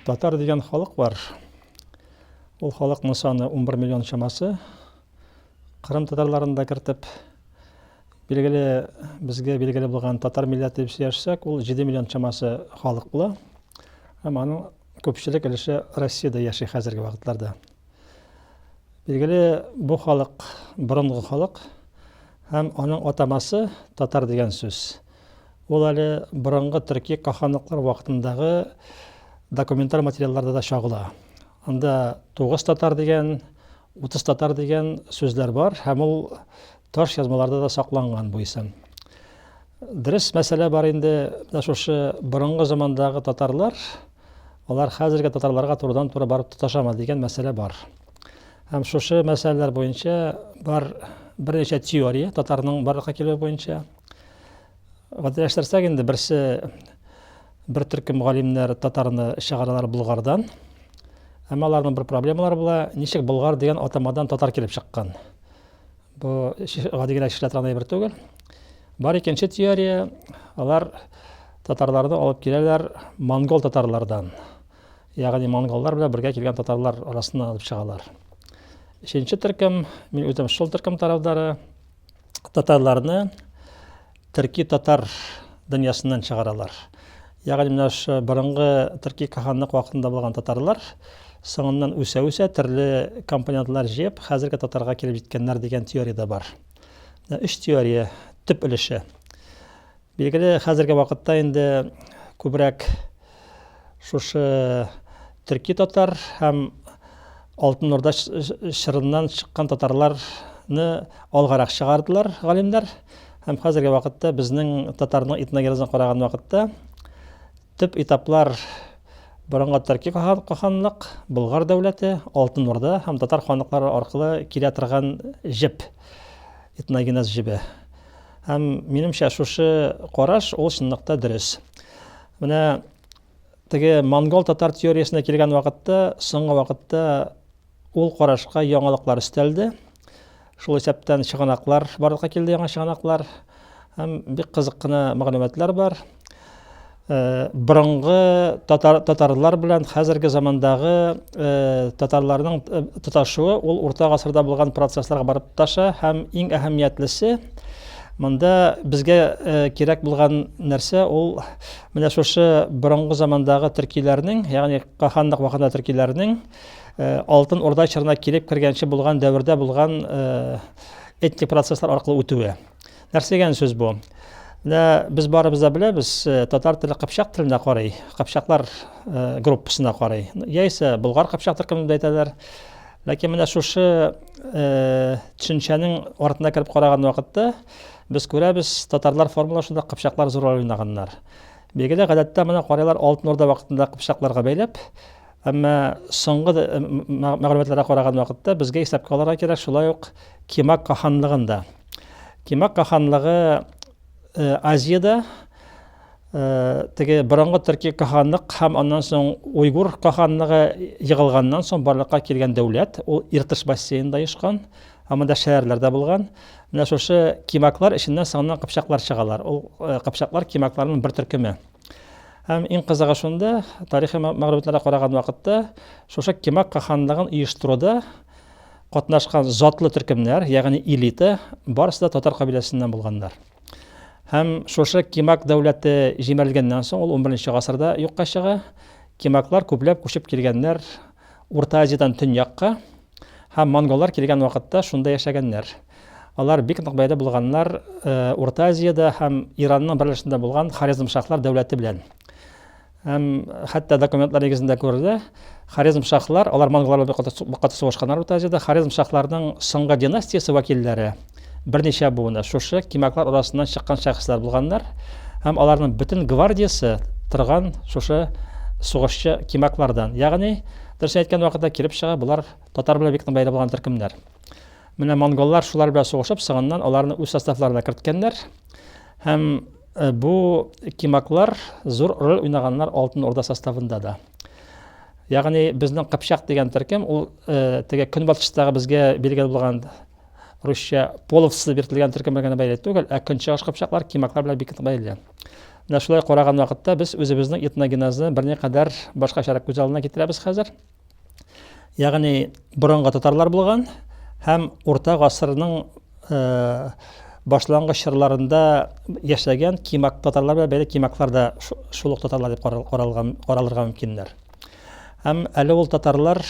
Татар дигән халык бар. Ул халыкның саны 11 миллион чамасы. Кырым татарларын да кертеп, билгеле, безгә билгеле булган татар милләте дип сөйләшсәк, ул 7 миллион чамасы халык була. Һәм аның күпчелек өлеше Россиядә яши хәзерге вакытларда. Билгеле, бу халык борынгы халык һәм аның атамасы татар дигән сүз. Ул әле борынгы төрки каханлыклар вакытындагы документаль материалларда да чагыла. Анда 9 татар дигән, 30 татар дигән сүзләр бар һәм ул таш язмаларда да сакланган бу исем. Дөрес мәсьәлә бар инде, менә шушы борынгы замандагы татарлар Алар хәзерге татарларга турыдан-туры барып тоташамы дигән мәсьәлә бар. Һәм шушы мәсьәләләр буенча бар берничә теория татарның барлыкка килүе буенча. Гадиләштерсәк инде берсе бер төркем галимнәр татарны чыгаралар Булгардан. Әмма аларның бер проблемалары була, ничек Булгар дигән атамадан татар килеп чыккан? Бу гади генә кешеләр торган әйбер түгел. Бар икенче теория, алар татарларны алып киләләр монгол татарлардан. Ягъни монголлар белән бергә килгән татарлар арасыннан алып чыгалар. Өченче төркем, мин үзем шул төркем тарафдары, татарларны Төрки татар дөньясыннан чыгаралар. Ягъни менә шу борынгы төрки каханлык вакытында булган татарлар соңыннан үсә-үсә төрле компонентлар җыеп, хәзерге татарга килеп җиткәннәр дигән теория дә бар. Менә өч теория төп өлеше. Билгеле, хәзерге вакытта инде күбрәк Шушы төрки татар һәм Алтын Урда чорыннан чыккан татарларны алгарак чыгардылар галимнәр. Һәм хәзерге вакытта безнең татарның этногенезын караган вакытта төп этаплар борынгы төрки ханлык, Болгар дәүләте, Алтын Урда һәм татар ханлыклары аркылы килә торган җеп, этногенез җебе. Һәм минемчә шушы караш ул чынлыкта дөрес. Менә теге монгол татар теориясенә килгән вакытта, соңгы вакытта ул карашка яңалыклар өстәлде. Шул исәптән чыганаклар барлыкка килде, яңа чыганаклар һәм бик кызык кына мәгълүматлар бар. Э, борынгы татар, татарлар белән хәзерге замандагы э, татарларның э, тоташуы ул урта гасырда булган процессларга барып тоташа һәм иң әһәмиятлесе Монда безгә кирәк булган нәрсә ул менә шушы борынгы замандагы төркиләрнең, ягъни каханлык вакытында төркиләрнең Алтын Урда чорына килеп кергәнче булган дәвердә булган этник процесслар аркылы үтүе. Нәрсә дигән сүз бу? Менә без барыбыз да беләбез, э, татар теле кыпчак теленә карый, кыпчаклар э, группасына карый. Яисә болгар кыпчак төркемендә әйтәләр. Ләкин менә шушы төшенчәнең артына кереп караган вакытта без күрәбез, татарлар формулашында кыпчаклар зур роль уйнаганнар. Билгеле, гадәттә моны карыйлар Алтын Орда вакытында кыпчакларга бәйләп, әмма соңгы э, мәгълүматларга караган вакытта безгә исәпкә алырга кирәк шулай ук Кимак каханлыгын да. Кимак каханлыгы Э, Азияда э, теге борынгы төрки каханлык һәм аннан соң уйгур каханлыгы егылганнан соң барлыкка килгән дәүләт ул Иртыш бассейнында ешкан һәм монда шәһәрләрдә булган менә шушы кимаклар эченнән соңыннан кыпчаклар чыгалар ул э, кыпчаклар кимакларның бер төркеме һәм иң кызыгы шунда тарихи мәгълүматларга караган вакытта шушы кимак каханлыгын оештыруда Катнашкан затлы төркемнәр, ягъни элита, барысы да татар кабиләсеннән булганнар. Һәм шушы Кимак дәүләте җимерелгәннән соң, ул 11 гасырда юкка чыга. Кимаклар күпләп күчеп килгәннәр Урта Азиядән төньякка һәм монголлар килгән вакытта шунда яшәгәннәр. Алар бик нык бәйле булганнар э, Урта Азиядә һәм Иранның берләшендә булган Хорезмшахлар дәүләте белән. Һәм хәтта документлар нигезендә күрелә, Хорезм шахлар, алар монголлар белән бик каты сугышканнар Урта Азиядә. Хорезм шахларының соңгы династиясе вәкилләре берничә буыны шушы кимаклар арасыннан чыккан шәхесләр булганнар. Һәм аларның бөтен гвардиясе торган шушы сугышчы кимаклардан. Ягъни, дөрес әйткән вакытта килеп чыга, булар татар белән бик бәйле булган төркемнәр. Менә монголлар шулар белән сугышып, соңыннан аларны үз составларына керткәннәр. Һәм Э, бу кимаклар зур роль уйнаганнар Алтын Орда составында да. Ягъни безнең Кыпчак дигән төркем ул э, теге көнбатыштагы безгә билгеле булган русча половцы биртелгән төркем белән бәйле түгел, ә көнчыгыш кыпчаклар кимаклар белән бик бәйле. Менә шулай караган вакытта без үзебезнең этногенезны берникадәр башкачарак күз алдына китерәбез хәзер. Ягъни борынгы татарлар булган һәм урта гасырның э, башлангыч чорларында яшәгән кимак татарлар белән бәйле кимаклар да шул ук татарлар дип каралган каралырга мөмкиннәр. Һәм әле ул татарлар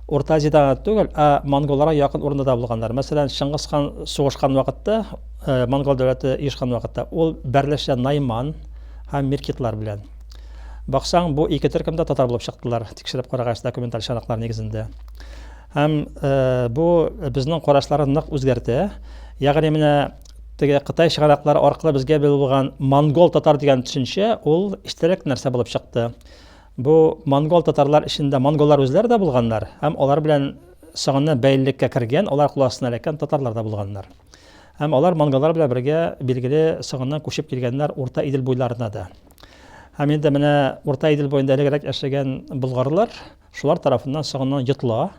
Урта Азиядә гына түгел, ә монголларга якын урында да булганнар. Мәсәлән, Чыңгыз хан сугышкан вакытта, э, монгол дәүләте иешкан вакытта, ул бәрләшә Найман һәм Миркитлар белән. Баксаң, бу ике төркем дә татар булып чыктылар, тикшереп карагач, документаль чанаклар нигезендә. Һәм э, бу безнең карашлары нык үзгәртә. Ягъни менә теге Кытай чыганаклары аркылы безгә белгән булган монгол татар дигән төшенчә ул истәлек нәрсә булып чыкты. Бу монгол татарлар эчендә монголлар үзләре дә булганнар һәм алар белән соңыннан бәйлелеккә кергән, алар кул астына эләккән татарлар да булганнар. Һәм алар монголлар белән бергә билгеле соңыннан күчеп килгәннәр Урта Идел буйларына да. Һәм инде менә Урта Идел буенда элегрәк яшәгән болгарлар шулар тарафыннан соңыннан йотыла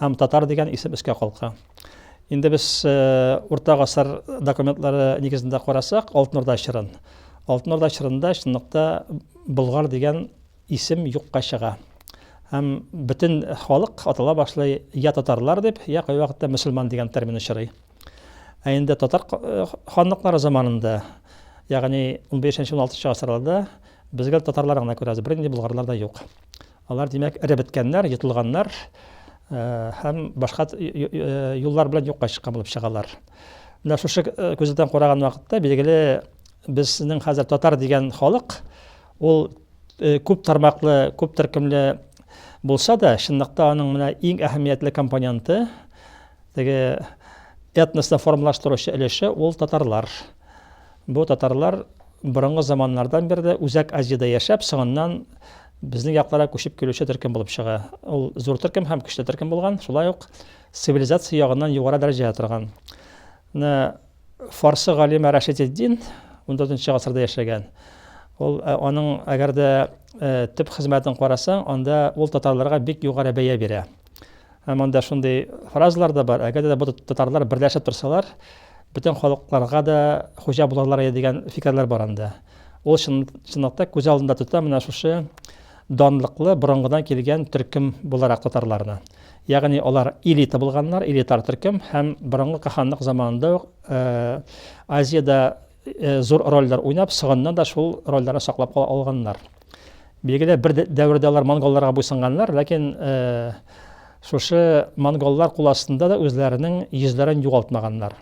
һәм татар дигән исем өскә калка. Инде без э, урта гасыр документлары нигезендә карасак, Алтын Урда чорын. Алтын Урда чорында чынлыкта болгар дигән исем юкка чыга. Һәм бөтен халык атала башлый я татарлар дип, я кайвакытта мөселман дигән термин очрый. Ә инде татар ханлыклары заманында, ягъни 15-16 гасырларда безгә татарлар гына күрәбез, бернинди булгарлар да юк. Алар, димәк, эреп беткәннәр, йотылганнар һәм башка юллар белән юкка чыккан булып чыгалар. Менә шушы күздән караган вакытта, билгеле, безнең хәзер татар дигән халык, ул күп тармаклы, күп төркемле булса да, чынлыкта аның менә иң әһәмиятле компоненты Теге этносны формалаштыручы өлеше ул татарлар. Бу татарлар борынгы заманнардан бирле Үзәк Азиядә яшәп, соңыннан безнең якларга күчеп килүче төркем булып чыга. Ул зур төркем һәм көчле төркем булган, шулай ук цивилизация ягыннан югары дәрәҗәдә торган. Менә фарсы галиме Рашидетдин 14 нче гасырда яшәгән. Ул э, аның әгәр дә э, төп хезмәтен карасаң, анда ул татарларга бик югары бәя бирә. Ә монда шундый фразалар да бар, әгәр дә бу татарлар берләшеп торсалар, бөтен халыкларга да хуҗа булырлар иде дигән фикерләр бар анда. Ул чын, чынлыкта күз алдында тота менә шушы данлыклы борынгыдан килгән төркем буларак татарларны. Ягъни алар элита булганнар, элитар төркем һәм борынгы каханлык заманында ук э, Азиядә зур рольләр уйнап, соңыннан да шул рольләрне саклап кала алганнар. Билгеле, бер дәвердә алар монголларга буйсынганнар, ләкин шушы монголлар кул астында да үзләренең йөзләрен югалтмаганнар.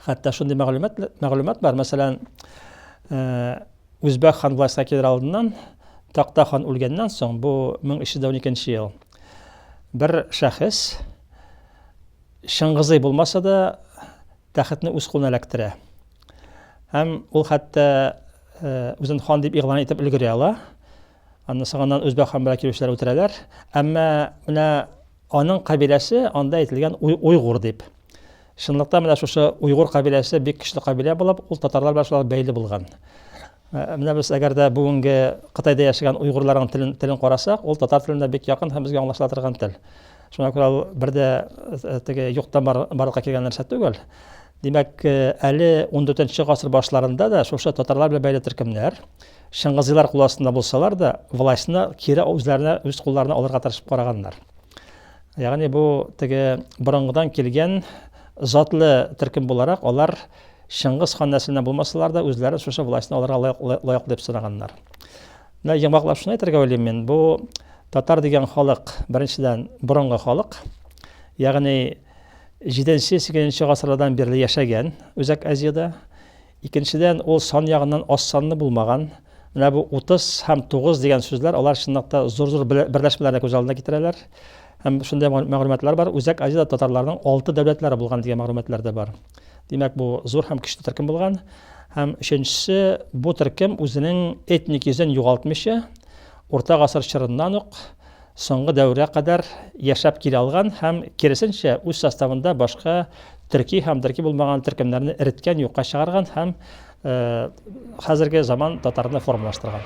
Хәтта шундый мәгълүмат мәгълүмат бар, мәсәлән, Үзбәк хан властька килер алдыннан Такта хан үлгәннән соң, бу 1312 ел, бер шәхес Чыңгызый булмаса да, тәхетне үз кулына эләктерә. Һәм ул хәтта үзен хан дип игълан итеп өлгерә ала. Аннан соңыннан үзбәк хан белән килүчеләр үтерәләр. Әмма менә аның кабиләсе анда әйтелгән уйгур дип. Чынлыкта менә шушы уйгур кабиләсе бик көчле кабилә булып, ул татарлар белән шулай бәйле булган. Ә, менә без әгәр дә бүгенге Кытайда яшәгән уйгырларның телен, телен карасак, ул татар теленә бик якын һәм безгә аңлашыла торган тел. Шуңа күрә ул бер дә э, теге юктан бар, барлыкка килгән нәрсә түгел. Димәк, э, әле 14 гасыр башларында да шушы татарлар белән бәйле төркемнәр Шыңгызилар кул астында булсалар да, властьны кире үзләренә үз кулларына алырга тырышып караганнар. Ягъни бу теге борынгыдан килгән затлы төркем буларак алар Чыңгыз хан нәселеннән булмасалар да, үзләре шушы властьны алырга лаеклы дип санаганнар. Менә йомгаклап шуны әйтергә уйлыйм мин, бу татар дигән халык, беренчедән, борынгы халык, ягъни 7-8 гасырлардан бирле яшәгән Үзәк Азиядә. Икенчедән, ул сан ягыннан аз санлы булмаган. Менә бу 30 һәм 9 дигән сүзләр, алар чынлыкта зур-зур берләшмәләрне күз алдына китерәләр. Һәм шундый мәгълүматлар бар, Үзәк Азиядә татарларның алты дәүләтләре булган дигән мәгълүматлар да бар. Димәк, бу зур һәм көчле төркем булган. Һәм өченчесе, бу төркем үзенең этник йөзен югалтмыйча, урта гасыр чорыннан ук соңгы дәвергә кадәр яшәп килә алган һәм киресенчә үз составында башка төрки һәм төрки булмаган төркемнәрне эреткән, юкка чыгарган һәм э, хәзерге заман татарына формалаштырган.